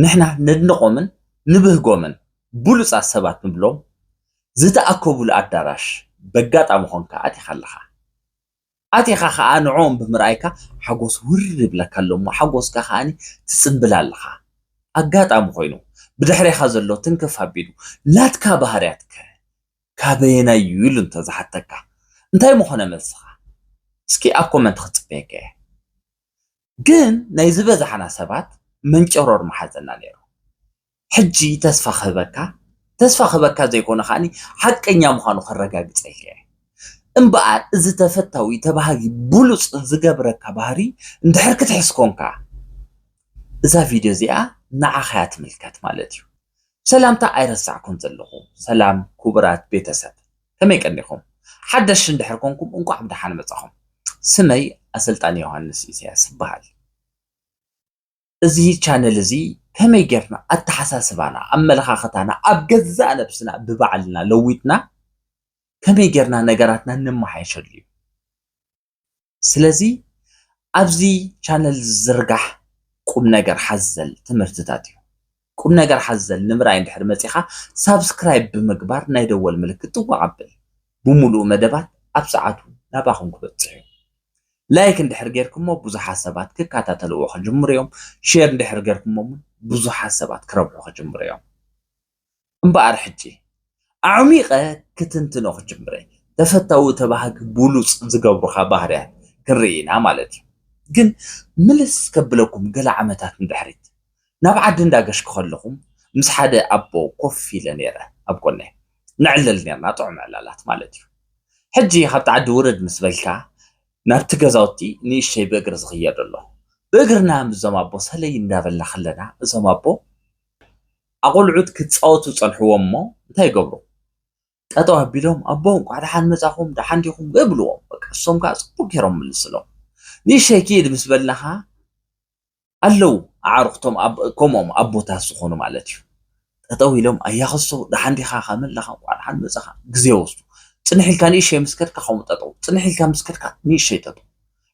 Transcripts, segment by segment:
ንሕና ነድንቖምን ንብህጎምን ብሉጻት ሰባት ንብሎም ዝተኣከቡሉ ኣዳራሽ በጋጣሚ ኮንካ ኣቲኻ ኣለኻ። ኣቲኻ ከኣ ንዕኦም ብምርኣይካ ሓጎስ ውርር ይብለካ ኣሎ እሞ ሓጎስካ ከኣ ትጽንብል ኣለኻ። ኣጋጣሚ ኮይኑ ብድሕሬኻ ዘሎ ትንክፍ ኣቢሉ ናትካ ባህርያት ከ ካበየናይ እዩ ኢሉ እንተ ዝሓተካ እንታይ ምኾነ መልስኻ? እስኪ ኣብ ኮመንት ክጽበየካ እየ። ግን ናይ ዝበዛሕና ሰባት መንጨሮር ምሓዘና ነይሩ ሕጂ ተስፋ ክህበካ ተስፋ ክህበካ ዘይኮነ ከዓኒ ሓቀኛ ምዃኑ ከረጋግጸልካ እየ እምበኣር እዚ ተፈታዊ ተባሃጊ ብሉጽ ዝገብረካ ባህሪ እንድሕር ክትሕስ ኮንካ እዛ ቪድዮ እዚኣ ንዓኻ እያ ትምልከት ማለት እዩ ሰላምታ ኣይረሳዕኩን ዘለኹ ሰላም ክቡራት ቤተሰብ ከመይ ቀኒኹም ሓደሽ እንድሕር ኮንኩም እንቋዕ ብደሓን መጻኹም ስመይ ኣሰልጣኒ ዮሃንስ ኢሳያስ ይበሃል እዚ ቻነል እዚ ከመይ ጌርና ኣተሓሳስባና ኣመለኻኽታና ኣብ ገዛእ ነብስና ብባዕልና ለዊጥና ከመይ ጌርና ነገራትና ነመሓየሸሉ እዩ ስለዚ ኣብዚ ቻነል ዝዝርጋሕ ቁምነገር ሓዘል ትምህርትታት እዩ። ቁምነገር ሓዘል ንምርኣይ እንድሕር መጺኻ ሳብስክራይብ ብምግባር ናይ ደወል ምልክት ጥውቕ ኣብል። ብምሉኡ መደባት ኣብ ሰዓቱ ናባኹም ክበጽሕ እዩ። ላይክ እንድሕር ጌርኩሞ ብዙሓት ሰባት ክከታተልዎ ክጅምሩ እዮም። ሼር እንድሕር ጌርኩሞ እውን ብዙሓት ሰባት ክረብሑ ክጅምሩ እዮም። እምበኣር ሕጂ ኣዕሚቐ ክትንትኖ ክጅምረ ተፈታዊ ተባሃጊ ቡሉጽ ዝገብሩኻ ባህርያት ክንርኢ ኢና ማለት እዩ ግን ምልስ ከብለኩም ገለ ዓመታት ንድሕሪት ናብ ዓዲ እንዳ ገሽኩ ከለኹም ምስ ሓደ ኣቦ ኮፍ ኢለ ኔረ ኣብ ጎነይ ንዕለል ኔርና ጥዑም ዕላላት ማለት እዩ ሕጂ ካብቲ ዓዲ ውርድ ምስ በልካ ናብቲ ገዛውቲ ንእሽተይ ብእግሪ ዝኽየደሎ ብእግርና ምስዞም ኣቦ ሰለይ እንዳበልና ከለና እዞም ኣቦ ኣቖልዑት ክጻወቱ ጸንሕዎም እሞ እንታይ ይገብሩ ጠጠው ኣቢሎም ኣቦ እንቋዕ ደሓን መጻኹም ደሓን ዲኹም እብልዎም በቃ እሶም ከኣ ጽቡቅ ጌሮም ምልስሎም ንእሸይ ክኢድ ምስ በልናኻ ኣለው ኣዕሩኽቶም ከምኦም ኣቦታት ዝኾኑ ማለት እዩ ጠጠው ኢሎም ኣያኸሶ ደሓን ዲኻ ከመይ ኣለኻ እንቋዕ ደሓን መጻኻ ግዜ ወስዱ ጽንሕ ኢልካ ንእሸይ ምስ ከድካ ከምኡ ጠጠው ጽንሕ ኢልካ ምስ ከድካ ንእሸይ ጠጠው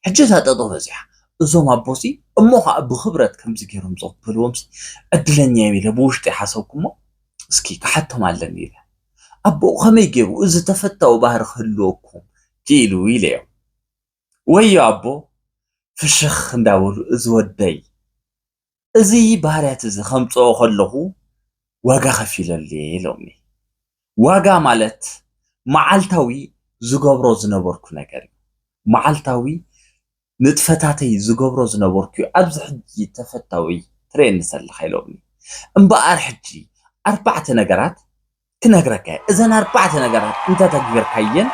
ሕጂ እታ ጠጠው በጺሓ እዞም ኣቦሲ እሞ ከኣ ብኽብረት ከምዚ ገይሮም ዝቕበልዎምሲ ዕድለኛ እየ ኢለ ብውሽጠይ ሓሰብኩሞ እስኪ ክሓቶም ኣለኒ ኢለ ኣቦኡ ከመይ ገይሩ እዚ ተፈታዊ ባህሪ ክህልወኩም ክኢሉ ኢለዮም ወዮ ኣቦ ፍሽኽ እንዳበሉ እዚ ወደይ እዚ ባህርያት እዚ ከምጽኦ ከለኹ ዋጋ ከፊለሉ እየ ኢሎምኒ። ዋጋ ማለት መዓልታዊ ዝገብሮ ዝነበርኩ ነገር እዩ። መዓልታዊ ንጥፈታተይ ዝገብሮ ዝነበርኩ እዩ ኣብዚ ሕጂ ተፈታዊ ትርእየኒ ዘለኻ ኢሎምኒ። እምበኣር ሕጂ ኣርባዕተ ነገራት ክነግረካ እየ እዘን ኣርባዕተ ነገራት እንተተግቢርካየን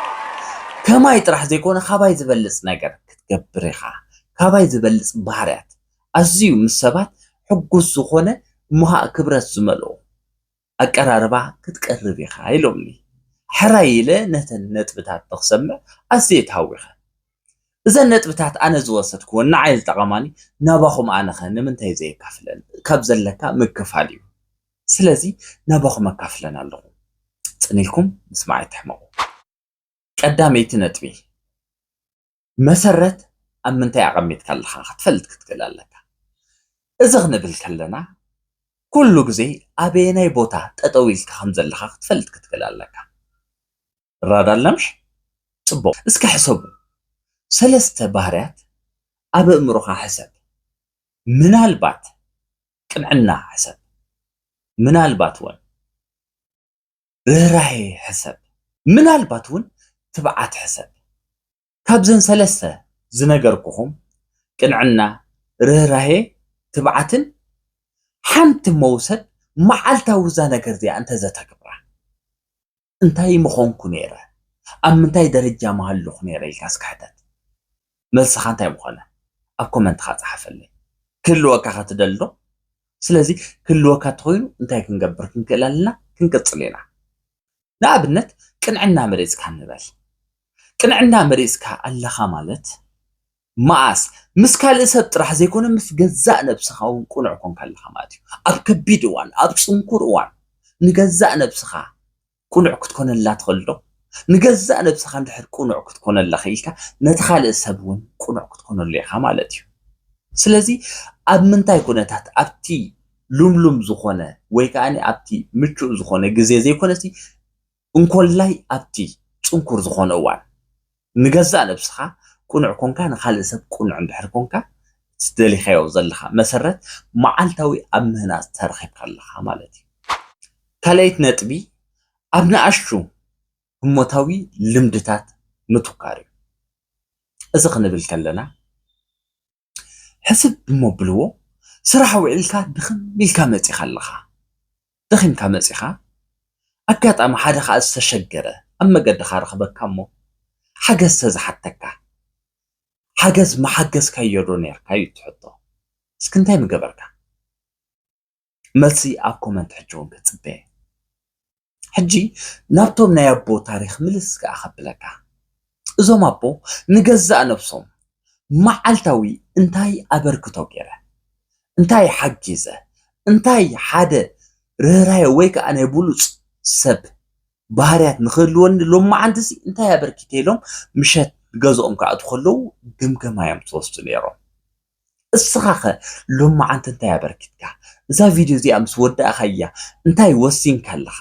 ከማይ ጥራሕ ዘይኮነ ካባይ ዝበልፅ ነገር ክትገብር ኢኻ ካባይ ዝበልፅ ባህርያት ኣዝዩ ምስ ሰባት ሕጉስ ዝኾነ እሞ ኻዓ ክብረት ዝመልኦ ኣቀራርባ ክትቀርብ ኢኻ ኢሎምኒ ሕራይ ኢለ ነተን ነጥብታት ንክሰምዕ ኣዝየ ተሃዊኸ እዘን ነጥብታት ኣነ ዝወሰድክወን ንዓይ ዝጠቐማኒ ናባኹም ኣነኸ ንምንታይ ዘየካፍለን ካብ ዘለካ ምክፋል እዩ ስለዚ ናባኹም ኣካፍለን ኣለኹ ጽን ኢልኩም ምስማዕ ኣይትሕመቁ። ቀዳመይቲ ነጥቢ መሰረት ኣብ ምንታይ ኣቀሚጥካ ኣለኻ ክትፈልጥ ክትክእል ኣለካ። እዚ ክንብል ከለና ኩሉ ግዜ ኣበየናይ ቦታ ጠጠው ኢልካ ከምዘለኻ ክትፈልጥ ክትክእል ኣለካ። ራዳላምሽ ጽቡቕ እስከ ሕሰቡ ሰለስተ ባህርያት ኣብ ኣእምሮኻ ሕሰብ ምናልባት ቅንዕና ሕሰብ ምናልባት ወን ርህራሄ ሕሰብ ምናልባት ውን ትብዓት ሕሰብ ካብዘን ሰለስተ ዝነገርኩኹም ቅንዕና ርህራሄ ትብዓትን ሓንቲ መውሰድ መዓልታዊ እዛ ነገር እዚኣ እንተዘተግብራ እንታይ ምኾንኩ ነይረ? ኣብ ምንታይ ደረጃ ምሃለኹ ነይረ ኢልካ እስከ ሕተት። መልስኻ እንታይ ምኾነ? ኣብ ኮመንትኻ ጸሓፈለይ። ክህልወካ ከ ትደሊ ዶ? ስለዚ ክህልወካ እንተኾይኑ እንታይ ክንገብር ክንክእል ኣለና? ክንቅጽል ኢና። ንኣብነት ቅንዕና መሪጽካ ንበል። ቅንዕና መሪጽካ ኣለኻ ማለት መኣስ? ምስ ካልእ ሰብ ጥራሕ ዘይኮነ ምስ ገዛእ ነብስኻ እውን ቅኑዕ ኰንካ ኣለኻ ማለት እዩ። ኣብ ከቢድ እዋን፣ ኣብ ጽንኩር እዋን ንገዛእ ነብስኻ ቅኑዕ ክትኰነላ ትኽእልዶ? ንገዛእ ነብስኻ እንድሕር ቅኑዕ ክትኰነላ ክኢልካ ነቲ ካልእ ሰብ እውን ቅኑዕ ክትኰነሉ ኢኻ ማለት እዩ። ስለዚ ኣብ ምንታይ ኵነታት ኣብቲ ልምሉም ዝዀነ ወይ ከኣ ኣብቲ ምቹእ ዝዀነ ግዜ ዘይኰነሲ እንኮላይ ኣብቲ ጽንኩር ዝኾነ እዋን። ንገዛእ ነብስኻ ቅኑዕ ኮንካ ንኻልእ ሰብ ቅኑዕ እንድሕር ኮንካ እቲ ዝደሊኻዮ ዘለኻ መሰረት መዓልታዊ ኣብ ምህናጽ ተረኺብካ ኣለኻ ማለት እዩ። ካልኣይቲ ነጥቢ ኣብ ንኣሽቱ ህሞታዊ ልምድታት ምትኳር እዩ። እዚ ክንብል ከለና። ሕስብ እሞ ኣብልዎ፣ ስራሕ ውዒልካ ድኽም ኢልካ መጺኻ ኣለኻ፣ ደኺምካ መጺኻ፣ ኣጋጣሚ ሓደ ከኣ ዝተሸገረ ኣብ መገድኻ ረኽበካ እሞ ሓገዝ ተዝሓተካ፣ ሓገዝ ምሓገዝካዮዶ ኔርካ እዩ እቲ ሕቶ፣ እስኪ እንታይ ምገበርካ? መልሲ ኣብ ኮመንት ሕጂ እውን ክጽበ እየ ሕጂ ናብቶም ናይ ኣቦ ታሪክ ምልስ ከኣ ከብለካ እዞም ኣቦ ንገዛእ ነብሶም መዓልታዊ እንታይ ኣበርክቶ ገይረ እንታይ ሓጊዘ እንታይ ሓደ ርህራሄ ወይ ከዓ ናይ ብሉፅ ሰብ ባህርያት ንክህልወኒ ሎም መዓልቲ እዚ እንታይ ኣበርኪተ ኢሎም ምሸት ገዝኦም ክኣትዉ ከለዉ ግምገማ እዮም ዝወስዱ ነይሮም እስኻኸ ሎማዓንቲ እንታይ ኣበርኪትካ? እዛ ቪድዮ እዚኣ ምስ ወዳእኻያ እንታይ ወሲንካ ኣለኻ?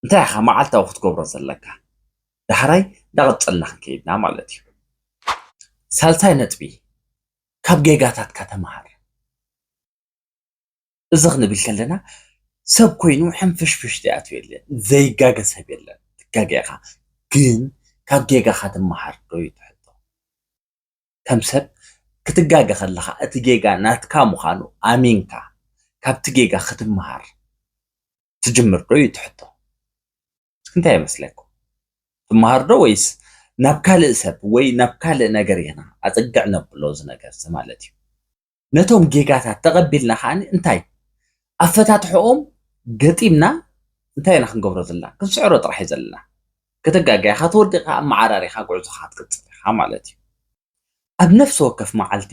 እንታይ ኢኻ መዓልታዊ ክትገብሮ ዘለካ? ዳሕራይ እንዳቐጸልና ክንከይድና ማለት እዩ። ሳልሳይ ነጥቢ ካብ ጌጋታትካ ተምሃር። እዚ ክንብል ከለና ሰብ ኮይኑ ሕንፍሽፍሽ ዘይኣትዮ የለን፣ ዘይጋገ ሰብ የለን። ትጋገ ኢኻ ግን ካብ ጌጋኻ ትምሃር ዶ እዩ እቲ ሕቶ። ከም ሰብ ክትጋገ ከለኻ እቲ ጌጋ ናትካ ምዃኑ ኣሚንካ ካብቲ ጌጋ ክትመሃር ትጅምር ዶ እዩ እቲ ሕቶ? እስኪ እንታይ ይመስለኩም? ትመሃር ዶ ወይስ ናብ ካልእ ሰብ ወይ ናብ ካልእ ነገር ኢና ኣፀግዕ ነብሎ እዚ ነገር እዚ ማለት እዩ። ነቶም ጌጋታት ተቐቢልና ከዓ እንታይ ኣፈታትሕኦም ገጢምና እንታይ ኢና ክንገብሮ ዘለና ክንስዕሮ ጥራሕ እዩ ዘለና ከተጋጋይ ኢኻ ተወዲቕካ ኣመዓራሪኻ ጉዕዞኻ ክትቅፅል ኢኻ ማለት እዩ ኣብ ነፍሲ ወከፍ መዓልቲ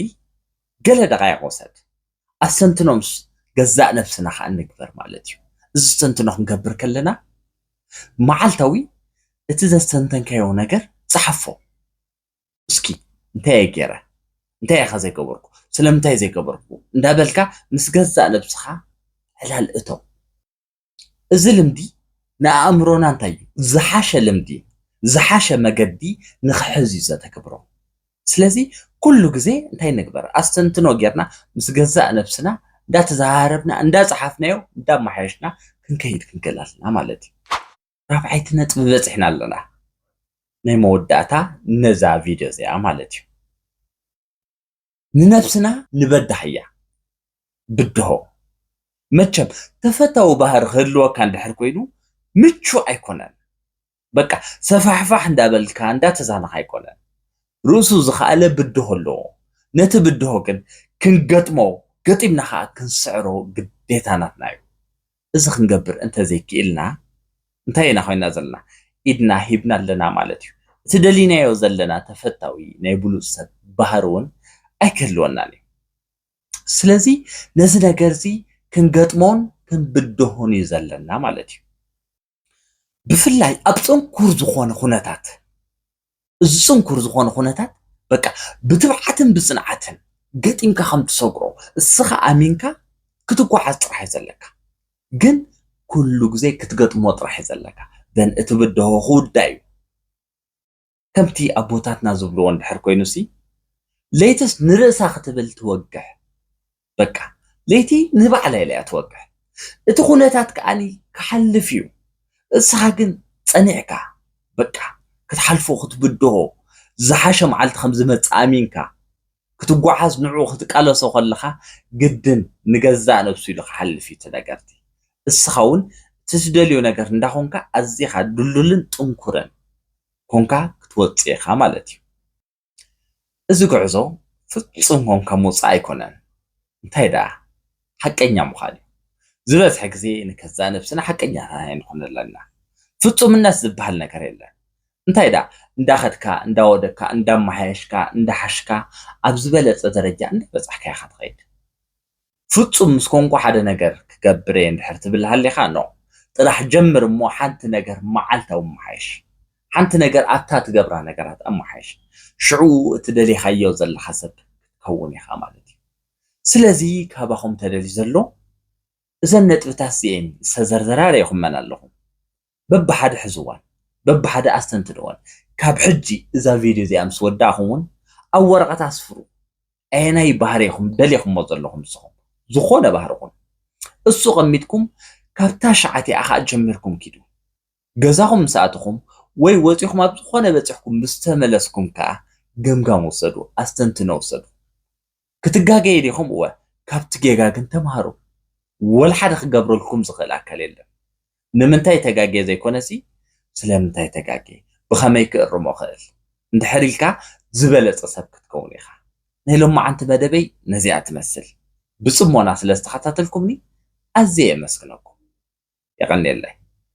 ገለ ደቃይቕ ወሰድ ኣስተንትኖ ምስ ገዛእ ነብስና ከዓ ንግበር ማለት እዩ እዚ ዝተንትኖ ክንገብር ከለና መዓልታዊ እቲ ዘስተንተንካዮ ነገር ፀሓፎ እስኪ እንታይ እየ ገይረ እንታይ እየኻ ዘይገበርኩ ስለምንታይ ዘይገበርኩ እንዳበልካ ምስ ገዛእ ነብስኻ ዕላል እተው እዚ ልምዲ ንኣእምሮና እንታይ እዩ ዝሓሸ ልምዲ ዝሓሸ መገዲ ንክሕዝ እዩ ዘተግብሮ ስለዚ ኩሉ ግዜ እንታይ ንግበር ኣስተንትኖ ጌርና ምስ ገዛእ ነብስና እንዳተዘራረብና እንዳፀሓፍናዮ እንዳመሓየሽና ክንከይድ ክንክእል ኣለና ማለት እዩ ራብዓይቲ ነጥቢ በጺሕና ኣለና ናይ መወዳእታ ነዛ ቪድዮ እዚኣ ማለት እዩ ንነብስና ንበዳህያ ብድሆ መቸም ተፈታዊ ባህሪ ክህልወካ እንድሕር ኮይኑ ምቹ ኣይኮነን በቃ ሰፋሕፋሕ እንዳበልካ እንዳተዛነኻ ኣይኮነን ርእሱ ዝኸኣለ ብድሆ ኣለዎ ነቲ ብድሆ ግን ክንገጥሞ ገጢምና ከዓ ክንስዕሮ ግዴታ ናትና እዩ እዚ ክንገብር እንተ ዘይክኢልና እንታይ ኢና ኮይና ዘለና? ኢድና ሂብና ኣለና ማለት እዩ። እቲ ደሊናዮ ዘለና ተፈታዊ ናይ ብሉጽ ሰብ ባህሪ እውን ኣይክህልወናን እዩ። ስለዚ ነዚ ነገርዚ ክንገጥሞን ክንብድሆን እዩ ዘለና ማለት እዩ። ብፍላይ ኣብ ጽንኩር ዝኾነ ኩነታት እዚ ጽንኩር ዝኾነ ኩነታት በቃ ብትብዓትን ብጽንዓትን ገጢምካ ከም ትሰግሮ እስኻ ኣሚንካ ክትጓዓዝ ጥራሕ እዩ ዘለካ ግን ኩሉ ግዜ ክትገጥሞ ጥራሕ እዩ ዘለካ ዘን እቲ ብድሆ ክውዳእ እዩ ከምቲ ኣቦታትና ዝብልዎ እንድሕር ኮይኑሲ ለይትስ ንርእሳ ክትብል ትወግሕ በቃ ለይቲ ንባዕላ ኢላያ ትወግሕ እቲ ኩነታት ከኣ ክሓልፍ እዩ እስኻ ግን ጸኒዕካ በቃ ክትሓልፎ ክትብድሆ ዝሓሸ መዓልቲ ከምዝመጽእ ኣሚንካ ክትጓዓዝ ንዕኡ ክትቃለሶ ከለኻ ግድን ንገዛእ ነብሱ ኢሉ ክሓልፍ እዩ እቲ ነገር'ቲ። እስኻ ውን እቲ ትደልዮ ነገር እንዳኾንካ ኣዚኻ ድልዱልን ጥንኩርን ኮንካ ክትወጽእ ኢኻ ማለት እዩ። እዚ ጉዕዞ ፍጹም ኮንካ ምውጻእ ኣይኮነን እንታይ ደኣ ሓቀኛ ምዃን እዩ። ዝበዝሐ ግዜ ንከዛእ ነብስና ሓቀኛታት ኣይንኾን ኣለና። ፍጹምነት ዝብሃል ነገር የለን። እንታይ ደኣ እንዳኸድካ እንዳወደካ እንዳማሓየሽካ እንዳሓሽካ ኣብ ዝበለጸ ደረጃ እንዳበጻሕካ ኢኻ ትኸይድ ፍጹም ምስ ኮንኩ ሓደ ነገር ክገብር እየ እንድሕር ትብል ሃሊኻ ን ጥራሕ ጀምር እሞ ሓንቲ ነገር መዓልታዊ ኣማሓይሽ ሓንቲ ነገር ኣብታ ትገብራ ነገራት ኣማሓይሽ ሽዑ እቲ ደሊኻዮ ዘለኻ ሰብ ክትከውን ኢኻ ማለት እዩ ስለዚ ካባኹም ተደልዩ ዘሎ እዘን ነጥብታት እዚኤን ዝተዘርዘራ ርኢኹመን ኣለኹም በብሓደ ሕዝዋን በብሓደ ኣስተንትንወን። ካብ ሕጂ እዛ ቪድዮ እዚኣ ምስ ወዳእኹም ውን ኣብ ወረቐት ኣስፍሩ ኣየናይ ባህሪ ኢኹም ደሊኹሞ ዘለኹም ንስኹም ዝኾነ ባህሪ ኩን እሱ ቀሚጥኩም ካብ ታሽዓቲኣ ከኣ ጀሚርኩም ኪዱ ገዛኹም ምስ ኣተኹም ወይ ወጺኹም ኣብ ዝኾነ በጺሕኩም ምስ ተመለስኩም ከኣ ገምጋም ውሰዱ ኣስተንትኖ ውሰዱ። ክትጋገየ ዲኹም እወ ካብቲ ጌጋ ግን ተማሃሩ ወልሓደ ክገብረልኩም ዝኽእል ኣካል የለን ንምንታይ ተጋግየ ዘይኮነሲ ስለምንታይ ተጋግየ ብኸመይ ክእርሞ እኽእል እንድሕር ኢልካ ዝበለጸ ሰብ ክትከውን ኢኻ ናይ ሎማዓንቲ መደበይ ነዚኣ ትመስል ብጽሞና ስለዝተኸታተልኩምኒ ኣዝየ የመስግነኩም የቐንየለይ።